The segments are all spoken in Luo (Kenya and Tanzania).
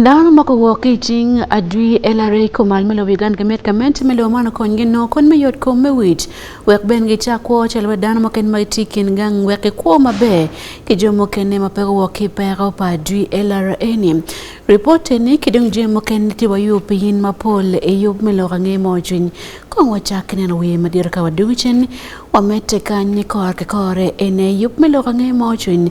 Dano ma ko wok ki cing adwi LRA ko mal melo wi gan gemet kament melo mano kon gen no kon me yot kom me wit wek ben gi cha ko chal we dano ma ken ma ti kin gang wek ke ko ma be ki jo mo ken ne ma pe ko wok ki pe ko pa adwi LRA ni report ni ki dong je mo ken ti wa yu pi yin ma pol e yu melo ka nge mo chin ko wa cha ken no wi ma dir ka wa du chen wa mete kan ni kor ke kore e ne yu melo ka nge mo chin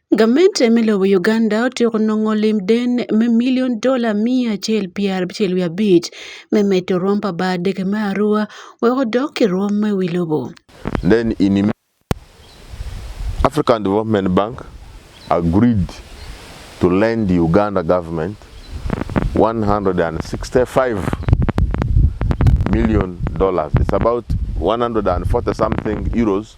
Gament me lobo Uganda otye ka nongo limden me million dollar miya acel pyera abicel wiye abic me medo rwom pa bar deke me arua wek odok ki rwom me wi lobo. Then in May, African Development Bank agreed to lend the Uganda government 165 million dollars. It's about 140 something euros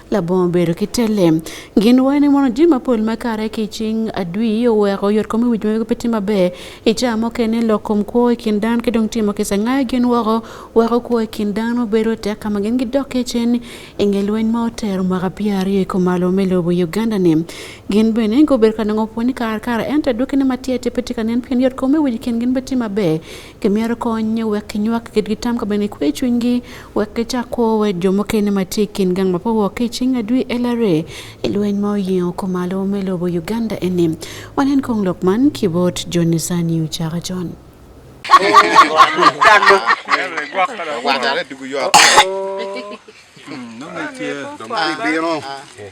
labongo bedo ki tele gin wene mono jami mapol makare ki cing adwi oweko yot kom iwic mabego pe tye maber i caa mukene lok kom kwo i kin dano ki dong timo ki cangayo gin woko weko kwo i kin dano bedo tek ka ma gin gidok ki cen i nge lweny ma otero mwaka pyera aryo i kumalo me lobo Uganda ni gin bene gubedo ka nongo pwony kare kare ento adwokine ma tye tye pe tye ka nen pien yot kom iwic i kin gin pe tye maber Kimyero kony wek kinywak kit gitam ka bene kwe chunygi wek kichako we jomo kene mati kin gang mapowo kiching adwi elare elweny ma oyiyo kumalo melobo Uganda eni wanen kong lokman kibot Johnny Sani uchaka John Thank you.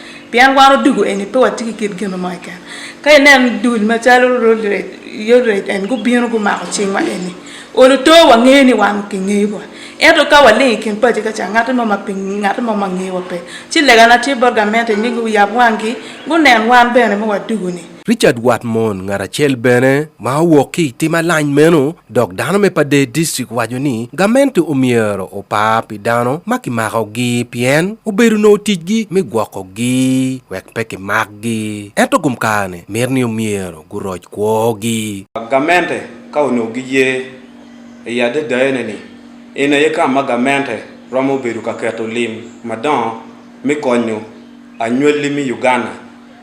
Pien wan odiko eni pe watye ki kit gin mo keken. Ka ineno dul macalo Yorec eni gubino gumako cingwa eni, olo to wangeyo ni wan kingeyo wa. Ento ka waling i kin paci ka ca ngat mo ma piny ngat mo ma ngeyo wa pe. Ci legana tye bot gamente ni guyab wanggi gunen wan bene ma wadiko ni. Richard Watmon ngat acel bene ma owok ki i tim alany meno dok dano me Padee District waco ni gamente omyero opar pi dano ma kimakogi pien obedo nongo ticgi me gwokogi wek pe kimakgi ento gum kare-ni mito ni omyero guroc kwogi. Gamente ka onongo giye i adadane ni eni aye ka ma gamente romo bedo ka keto lim madongo me konyo anywali me Uganda.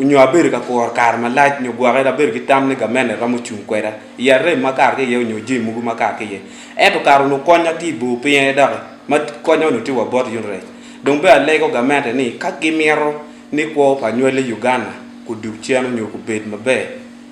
nyo abedo ka kuro kare malac nyo gwaka ita abedo ki tam ni gamente romo cung kweda ya rem ma kar ki iye onyo jami mogo ma kar ki iye ento kare onongo konya ti i bor pinye doki ma konya onongo ti wa bot yun rec dong be alego gamente ni ka gimito ni kwo pa nywali Uganda kudug cen onyo kubed maber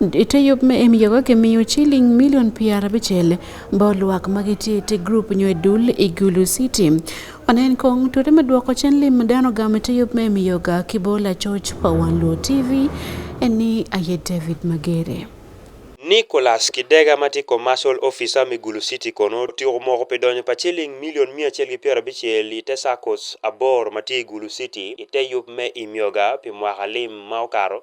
Ite yub me em yogo ke miyo chiling milion pier abichel bo lwak ma gitie ite grup nyo edul Igulu City. Onen kong ture me dwoko chen lim dano gam ite yub me em yoga kibola choch pa wan luo TV eni aye David Magere. Nicholas Kidega ma tye Commercial Officer me Igulu City kono otyeko moko pi donyo pa ciling milion miya acel ki pyera abicel i te Saccos aboro ma tye i Igulu City i te yub me Imyoga pi mwaka lim ma okato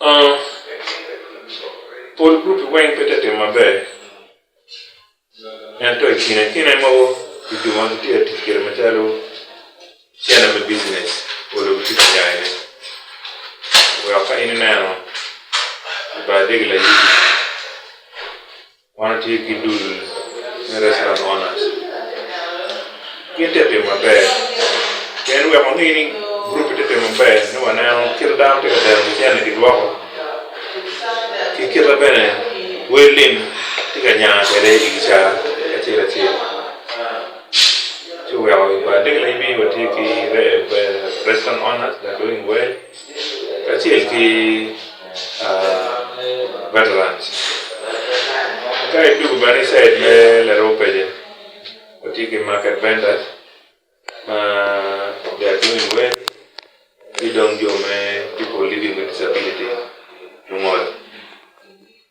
Uh, pod group weng pete tim maber en to kine kine mago vitu mag tiyo tich kere machalo siana me business olo kutiko jaene waka in neno ibadegla yidi Wantie gi dul ne restaurant owners. Ginte timo maber. Ken we wang'e ni grup te timo maber ni waneno kir dam te kadar ni chane gi dwoko. Kikira bene welim te ka nyana kere gi cha achiel achiel. Chuwe wa ba ding le mi wati ki restaurant owners that doing well. kaachiel gi veterans. Ka iduogo bani side me Lerupe cha, wati gi market vendors ma they are doing well. Gidong' jo me people living with disability, Lung'oyo.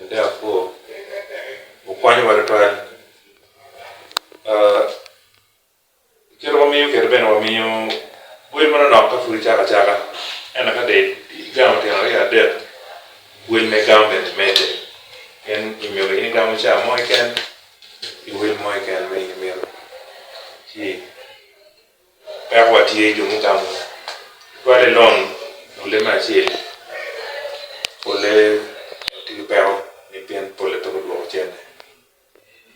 And therefore, ukwanyo mar twari. Uh, Kero wamiyo kero bende wamiyo gwen mano nok ka furi chaka chaka. Ena ka de gamo tena re adek. Gwen me gamo bende mete. En imiyo ga ini gamo cha moy ken. Iwil moy ken me imiyo. Chi. kaya kwa tie jo mutamo kwa le lon ole ma chie ole ti peo ni pien pole to do chen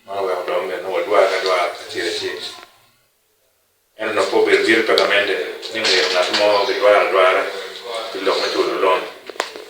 ma wa do me no dwa ka dwa chie chie en no po be vir pe ka mende ni ngi na mo be dwa dwa ti lo ma chulo lon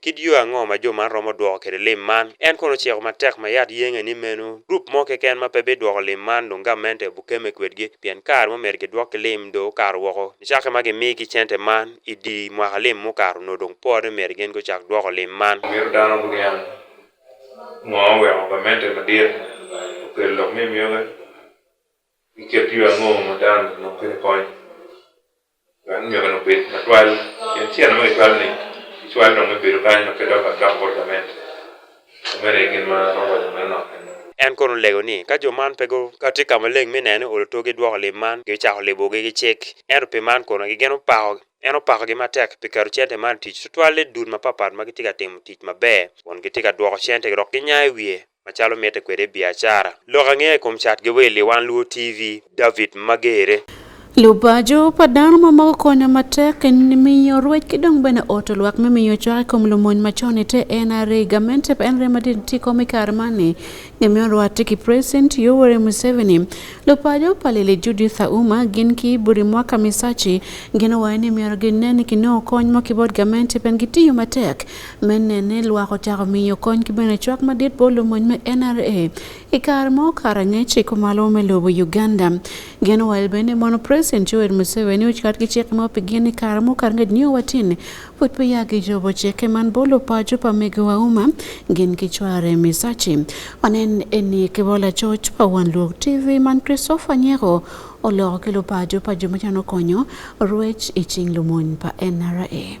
Kidiyo ango ma jo man romo dwoko kede lim man? En kono ociko matek ma yat yenge ni meno grup mo keken ma pe bidwoko lim man dong gamente obukeme kwedgi pien kare ma omyero gidwok ki lim dong okato woko. Nicakke ma gimigi cente man i dii mwaka lim mukato onongo dong pote myero gin gucak dwoko lim man. Myero dano guniang ngo ma oweko gamente madit okelo lok me myuke. Nikech yo ang'o ma dhano nokelo kony? Dhano nyaka nobed matwal, en chiano ma gitwal ni ichwal no mibedo kanyo no kedo ka ka por gamet. Omere gin ma owacho ma nok en. En kono olego ni, ka jo man pego ka tye ka maleng mi nene olo togi dwoko lim man gi cako libo gi gi cik. Ento pi man kono gi gen opako gi en opako gi matek pi keto cente man tic tutwal ni dul mapapat ma gitye ka timo tic maber kun gitye ka dwoko cente dok gi nya i wiye. macalo mitte kwede i biacara. Lok ange i kom cat Gewel i Wan Luo TV, David Magere. Lubaco pa dano ma mogo konyo matek i miyo rwec ki dong bene oto lwak me miyo cwak i kom lumony macon ite NRA gamente pa NRA ma tye kom i kare man-ni gimiyo rwate ki President Yoweri Museveni. Lupaco pa Lili Judith Auma gin ki Budi Mwaka Misaci gin owayo ni myero ginen ni kinongo kony mo ki bot gamente pien gitiyo matek Menen ni lwak ochako miyo kony ki bene cwak madit bot lumony me NRA i kare mo kara nge ciko malo me lobo Uganda. Gen wal bene mono President Yoweri Museveni ocat ki cik mo pi gin i kare mo kara nge nyo watin put pe ya ki jobo cike man bot lupaco pa mego wa uma gin ki cware misaci. Wanen eni ki bo lacoc pa wan lwok TV man Christopher Nyeko oloko ki lupaco pa jo macano konyo rwec i cing lumony pa NRA.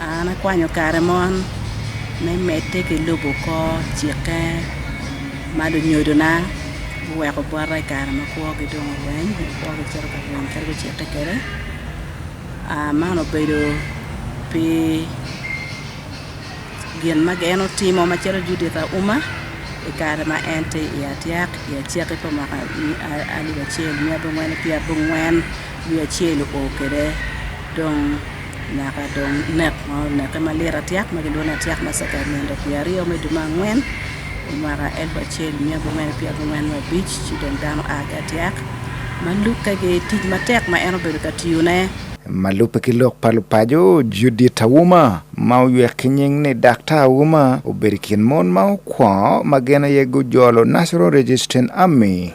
An akwanyo kare mon me medde ki lubo kor cikke ma lunyodona oweko bwota i kare ma kwo ki dong olweny kwo gicito ka lweny kadi gucikke kwede Ah, man obedo pi gin ma en otimo macalo Judith Auma i kare ma en tye i atyak i acaki pa mwaka i- a- alip acel mia abongwen ki abongwen dwe acel oo kwede dong Nyaka dong nek ma oneke malit atyek ma gilwongo ni atyek ma seke nindo pi aryo me dwe ma angwen i mwaka elfu acel mia abongwen pi abongwen ma abic ci dong dano a ki atyek ma lukke ki tic matek ma en obedo ka tiyone ma lubbe ki lok pa lupaco Judith Auma ma oywek ki nying ni Daktar Auma obedo i kin mon ma okwongo ma gin aye gujolo National Resistance Army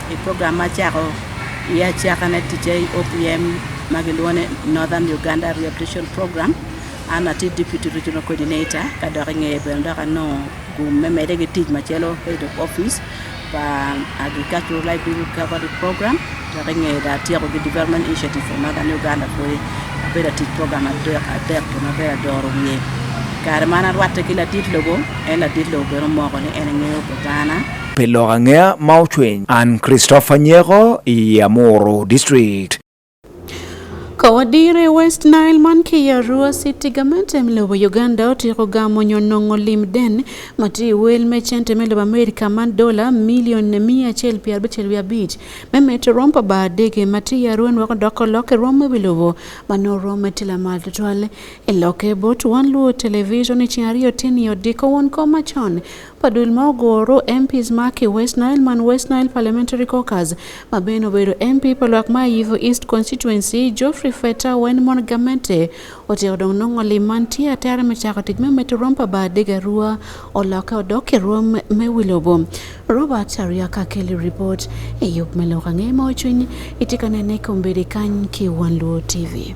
I program ma chako i acakane ticca i OPM ma gilwongo ni Northern Uganda Rehabilitation Program an atye deputy regional coordinator ka dok i ngeye bene dok anongo gum me mede ki tic macalo head of office pa agricultural library recovery program dok i ngeye dong atyeko ki development initiative for Northern Uganda kodi abedo atic program adek adek kun abedo adoro wiye kare man arwatte ki ladit lobo en ladit lobo bene omoko ni en engeyo Bubana Pelo ang'ea ma ochweny. An Christopher Nyego, Iamoro District. Kawadire West Nile man Kiyarua City Government emlobo Uganda otieko gamo nyonong'o limden mati wel mechente melobo Amerika man dola milion mia achiel piero abichiel gi abich memeto rompo ba adege mati yarua nwako doko loke romo bilobo mano romo tila mal tutwale eloke bot wan luo television ichieng ariyo tini odiko won koma chon Padul ma ogoro MPs maki West Nile man West Nile Parliamentary Caucus ma bende obedo MP palwak ma Yivo East Constituency Geoffrey Feta wen mon gamente otieko dong nongo lim mantie atere me chako tij me meto rompa ba diga ruwa oloke odok e ruwa me wilobo Robert Ariaka Kelly report e yop me loka ng'e ma ochwiny itika nene kombedi kany ki Wan Luo TV.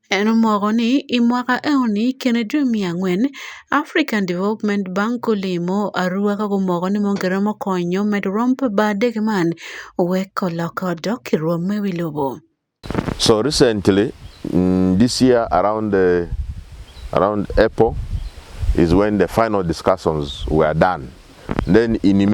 En omuogo ni i mwaka eoni kene dwe mia angwen African Development Bank olimo Arua ka gumogo ni mongere mokonyo medo romp ba dege man weko loko dok i rwom me wi lobo. So recently, mm, this year around the around April is when the final discussions were done. Then in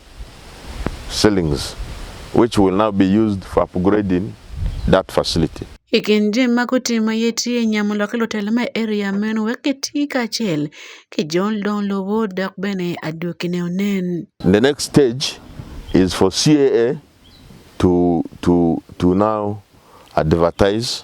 shillings which will now be used for upgrading that facility. Ikin je mago tima yetie nyamo loke lotel ma area men weke ti kachel ki John Don Lobo dok bene aduki ne onen. The next stage is for CAA to to to now advertise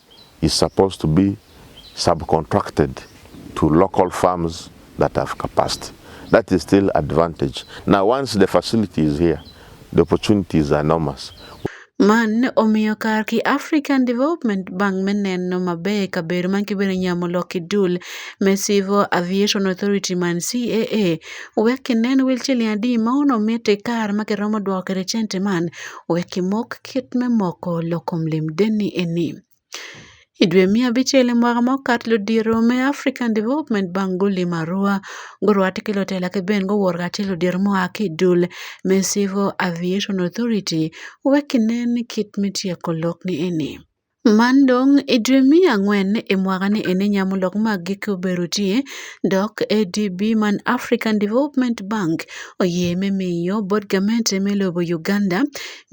is supposed to be subcontracted to local farms that have capacity. That is still advantage. Now, once the facility is here, the opportunity is enormous. Man omiyo kar ki African Development Bank me neno maber kabedo man kibedo nyamo lok ki dul me Civil Aviation Authority man CAA wek kinen wilcilian adi ma ono miti kar ma kiromo dwoko kede cente man weke mok kit me moko lokom lim deni eni. I dwe me abicel i mwaka ma okato ludito me African Development Bank gulimo Arua gurwatte ki lutela ki ben guworo kacel ludito mua ki i dul me Civil Aviation Authority wek ginen kit me tyeko lok ni eni. Man dong i dwe me angwen i mwaka ni eni nyamo lok ma agikki obedo tye dok ADB man African Development Bank oye me miyo bot gamente me lobo Uganda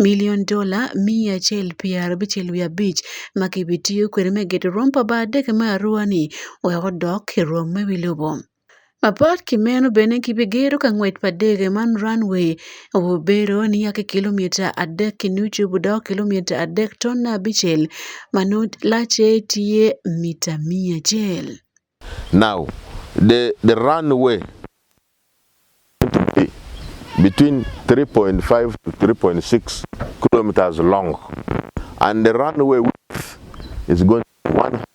million dollar miya acel pyera abicel wiye abic ma ki bi tiyo kwede me gedo rwom pa bar adek me arwani wek odok i rwom me wi lobo. Apart ki meno bene kibigedo ka ngwec pa dege man runway obedo niya ki kilomitua adek ki nucu gudok kilomitua adek tone abicel ma nongo lacce tye mita miya acel. Now the the runway between 3.5 to 3.6 kilometres long and the runway width is going to be 100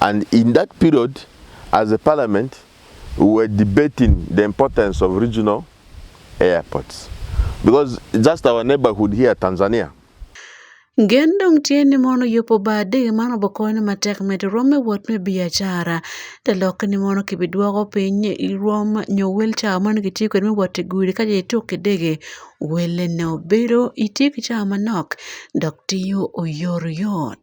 And in that period, as a parliament, we were debating the importance of regional airports because just our neighborhood here, Tanzania, Gen dong tye ni mono yubo badi man obokoyo ni matek medo rwom me wot me biacara te lok ni mono kibidwoko piny i rwom nyo wel cawa man gitye kwede me wot i gudi ka je ituk ki dege welle ne obedo itye ki cawa manok dok tiyo oyotoyot.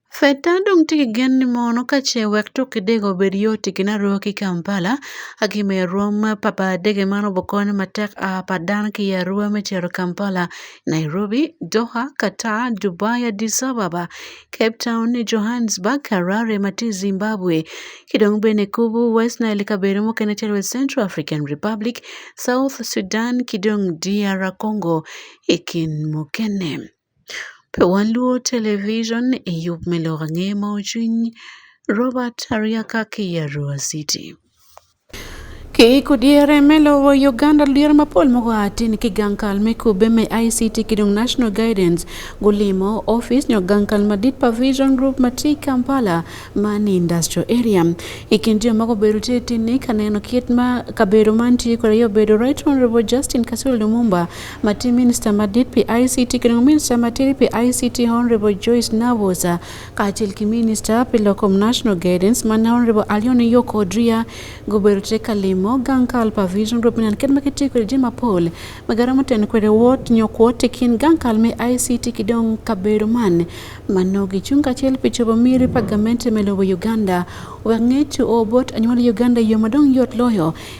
Feta adong' tye ki gen ni mono ka ce wek tuki dege obed yo tiki ni aroo ki Kampala ki i meyo rwom pa pa dege man obongo konyo matek a pa dano ki i Arua me cito Kampala, Nairobi, Doha, Qatar, Dubai, Addis Ababa, Cape Town, Johannesburg, Harare ma tye i Zimbabwe ki dong bene Kubu, West Nile, kabedo mukene calo wai Central African Republic, South Sudan ki dong DR Congo i kin mukene. Wan Luo Television e yup me lok ang'e ma ochuny Robert Ariaka Kiarua City. Kik udiere me lowo Uganda ludier mapol mogo atin kigankal me kube me ICT kidong National Guidance gulimo office nyogankal ma Deeper Vision Group mati Kampala mani industrial area ikinti mago bedo titini kaneno kit ma kabedo mantie kore yo bedo Right Honorable Justin Kasule Lumumba Mati Minista ma DP ICT kendo Minista ma DP ICT Honorable Joyce Nawoza kaachiel gi Minista piloko National Guidance mana Honorable Alione Yok Odria gobedo te kalimo gang kal provision group nan kendo makiti kwede jima pol magara moten kwede wot nyokwo tekin gang kal me ICT kidong kabedo man mano gichung kaachiel pichobo miri pagamente melobo Uganda wang'etu obot anyuola Uganda yo madong yot loyo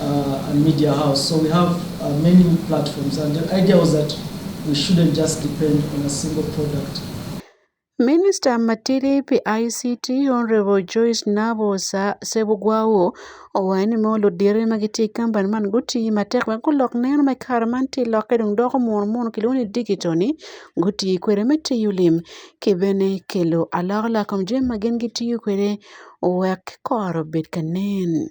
uh, and media house. So we have uh, many platforms, and the idea was that we shouldn't just depend on a single product. Minister matiriipi ICT Honorable Joyce Nabosa Sebugwawo owacho ni mondo dere ma gitye i kampen man guti matek wek gulok neno ma i kare man tye lokke dong doko muno muno kilwongo ni digito ni guti kwede me tiyo lim ki bene kelo alokaloka kom jami ma gin gitiyo kwede wek koro obed ka nen.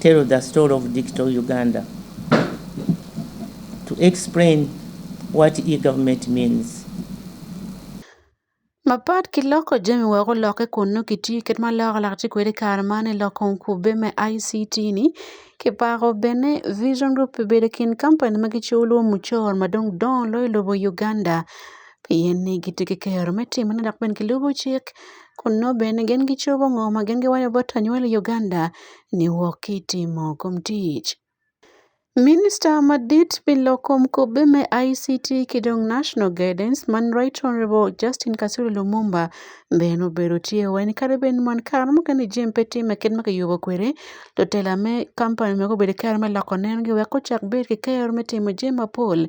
tell the story of digital Uganda, to explain what e-government means. Mapat ki loko jami wek olokke kun nongo kitiyo kit ma loko lok tye kwede i kare man i loko kubbe me ICT-ni, kipako bene Vision Group pi bedo i kin kampani ma giculo mucoro ma dong dongo loyo i lobo Uganda. Yien ni gi tike kero me timo ne dak ben ki lubo cik kun no bene gen gi cobo ngo ma gen gi wayo bot anywali Uganda ni wok ki timo kom tic. Minista madit pi lokom kobbe me ICT ki dong National Guidance man Right Honorable Justin Kasulu Lumumba ben obedo tye wen kadi ben man kare mukene jim pe timme kit ma kiyubo kwede lutela me kampani mege obedo kero me loko neno gi wek gucak bed ki kero me timo jim mapol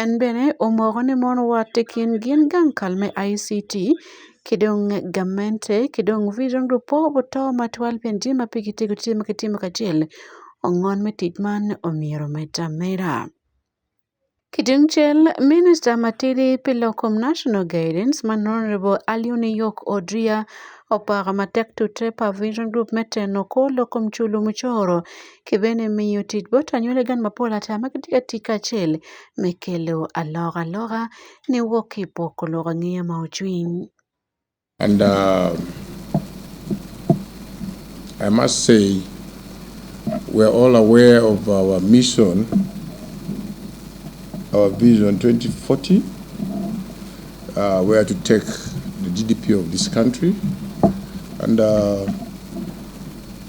En bene omoko ne mon wate kin gin gang kal me ICT ki dong gamente ki dong vision group po buto matwal pi jami ma pe kitye gutye ma kitimo kacel ongon me tic man omyero omed ti ameda. Ki tung cel minista matidi pi lok kom national guidance ma honourable Aliuni Yok Odria opako matek tute pa vision group me teno kor lok kom culu mucoro kibene miyo tic bot anywola gan mapol ata ma gitye ka tic kacel me kelo alokaloka ni wok ki i poko lok angeya ma ocwiny. And uh, I must say, we're all aware of our mission, our vision 2040. Uh, we are to take the GDP of this country. And uh,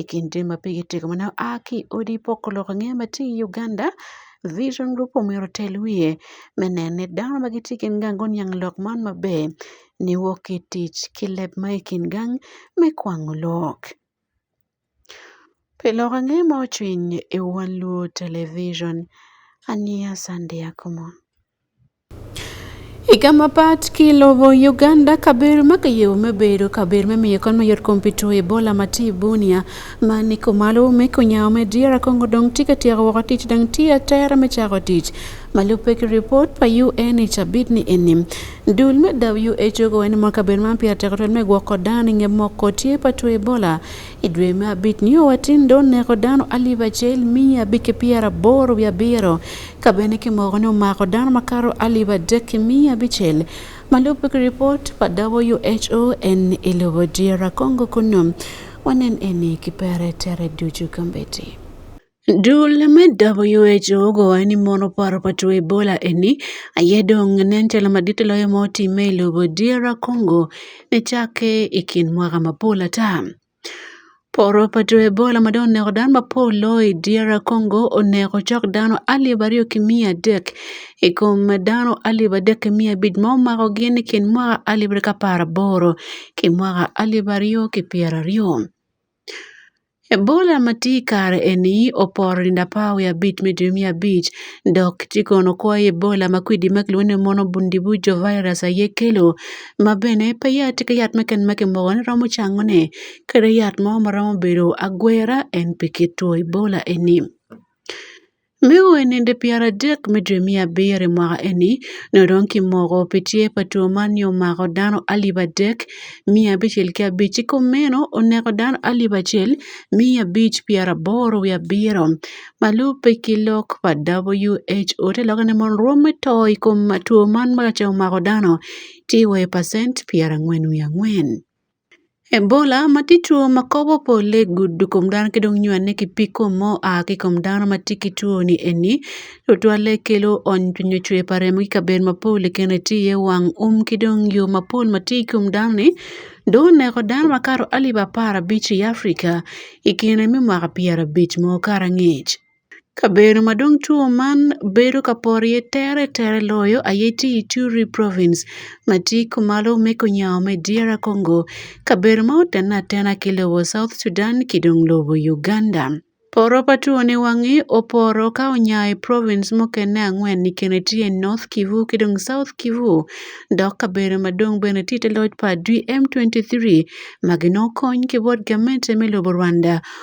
e kinde ma pigi tigo mana aki odi pok oloko ng'e ma ti Uganda Vision Group omiyo otel wiye me nene dano ma giti kin gang gon yang lok man maber ni wok ki tic ki leb ma i kin gang me kwango lok. Pi lok ange ma ocwiny i wan luo television aniya Sunday Akumu. Igama pat ki lobo Uganda kabedo ma kiyewo me bedo kabedo me miyo kony mayot kom pi two Ebola ma tye i Bunia ma niko malo me kunyawo me dyera Kongo dong tye ka tyeko woko tic dang tye atera me cako tic ma lubbe ki ripot pa UN i cabit ni eni. Dul me WHO gowe ni mon kabedo man pire tek twel me gwoko dano i nge moko tye pa two Ebola I dwe me abit nio watinde oneko dano alip acel miya abic ki pyera aboro wi abiro ka bene ki moko ni omako dano makato alip adek ki miya abicel ma lubbe ki ripot pa who en i lobo DR Congo kunu wanen eni ki pere tere ducu kombeddi. Dule me WHO ogowa ni mon oparo pa tuo Ebola eni aye dong ne telo madit loyo ma otime i lobo DR Congo ne cake i kin mwaka mapol ata. Poro pa tuo Ebola ma dong oneko dano mapol loyo i DR Congo oneko cok dano alip aryo ki miya adek i kom dano alip adek ki miya abic ma omako gin i kin mwaka alip aryo ki apar aboro ki mwaka alip aryo ki pyera aryo. Ebola matii kar eni opor rinda pawe abich me dwe mia abich dok ci kono kwo aye ebola ma kwidi ma kilwongo ni mono bundibujo virus aye kelo ma bene pe ya tye ki yat mukene ma kimoko ni romo cangone kadi yat mo ma romo bedo agwera en pe ki two ebola eni Me owe nende pyera adek me dwe miya abiro i mwaka eni nyo dong ki moko pi tye pa two man nyo omako dano alip adek miya abicel ki abic ci kom meno oneko dano alip acel miya abic pyera aboro wiye abiro ma lubbe ki lok pa WHO te lokke ni mono rwom me to i kom two man ma ka ce omako dano tye wa i pacent pyera angwen wiye angwen Ebola ma tye two ma kobo polle i gudo kom dano ki dong nywani ki pig kom mo oa ki i kom dano ma tye ki twoni eni tutwalle kelo onyo nyo cwe pa remo ki i kabedo mapol i kine tye iye wang um ki dong yo mapol ma tye i kom dano-ni dong oneko dano makato alip apar abic i Africa i kine me mwaka pyerabic mo kara angec. Kabero madong tuo man bero kaporie tere tere loyo aye ti Ituri province mati kumalo meko nyawo me DR Congo kabero ma otena tena kilowo South Sudan kidong lowo Uganda. Poro patuo ne wangi oporo ka onyaye province mokene angwen nikene tie North Kivu kidong South Kivu dok kabero madong bene ti te loch pa DRM23 magino kony kibot gamente me lobo Rwanda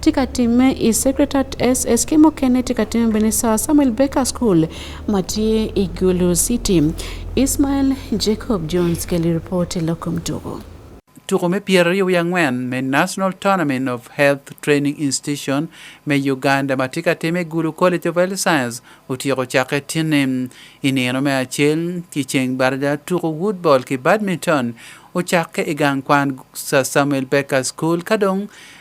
Tikatime i Secretariat SS Kimokene Tikatime bende sawa Samuel Baker School matie Igulu City. Ismael Jacob Jones keli report lokom tugo. Tuko me piero ariyo wi ang'wen me National Tournament of Health Training Institution me Uganda ma tye ka tim i Gulu College of Health Science otyeko cakke tinni. I nino me acel ki ceng baraja tuko woodball ki badminton ocakke i gang kwan Sir Samuel Baker School ka dong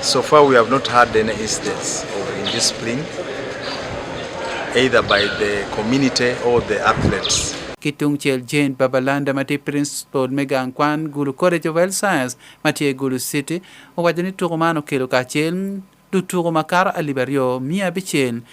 So far we have not had any incidents of indiscipline either by the community or the athletes. Kitungchel Jane Babalanda matye principal me gang kwan Gulu College of Health Science matye Gulu City owacho ni tuko man okelo kacel lutuko makato alip aryo miya abicel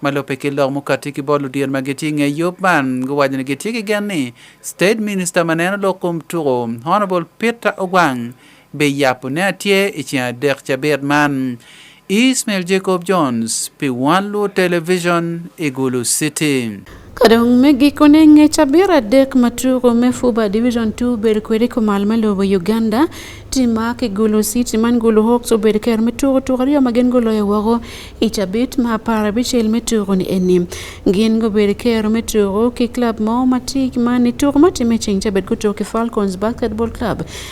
ma lope ki lok mukati ki bot ludyen ma gitye i nge yub man guwaco ni gitye ki gen ni state minister ma neno lok kom tuko honorable peter ogwang biyabo ne atye i ceng adek cabit man ismail jacob jones pi one lu television i gulu city Kadong me gikone ngech abiro adek matugo me FUBA Division 2 obedo kwede kumal me lobo Uganda. Tim ma kigulu City man gulu Hawks obedo ker me tugo tuko aryo ma gin guloyo woko i cabit ma apar abicel me tugo ni eni. Gin gubedo ker me tugo ki klab mo ma tye ma ni tuko ma timme ceng cabit gutuko ki Falcons Basketball Club.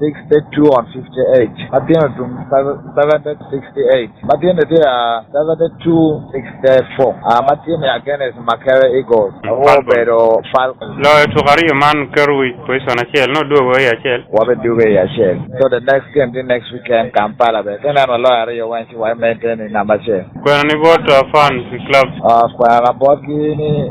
62 and 58. Matiende to 768. Matiende to uh, 72 64. Uh, Matiende again is Makere Eagles. Obedo Falcons. Lo to kariyo man kerwi position achiel no duogo e achiel. Wabe duogo e achiel. So the next game the next weekend Kampala be. Then I'm a lawyer ariyo wanchi wa maintain number achiel. Kwena ni bot uh, fans club. Uh, kwena bot gi ni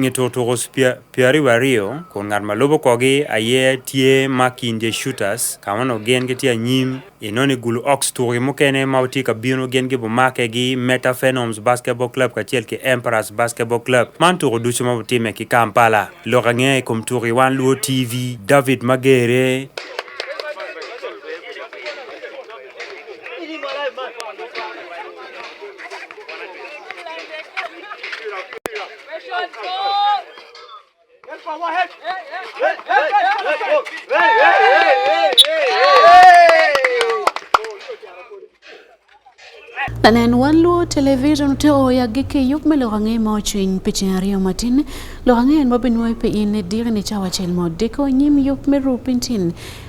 nge two tokos pyeri wario kun ngat ma lubo korgi aye tye ma kin je shooters kama no gen ki tye anyim i non i gulu ox tuki mukene ma watye ka bino gen gi bu make gi meta phenoms basketball club kacel ki emperors basketball club man tuko ducu ma butime ki kampala lok ange i kom tuki wan luo tv david magere Anen wan luo television te oya gi ke yuk me loga nge mo chwin piche ariyo matin loga nge en mabinwe pe in dire ni chawa chel mo deko nyim yuk me rupin tin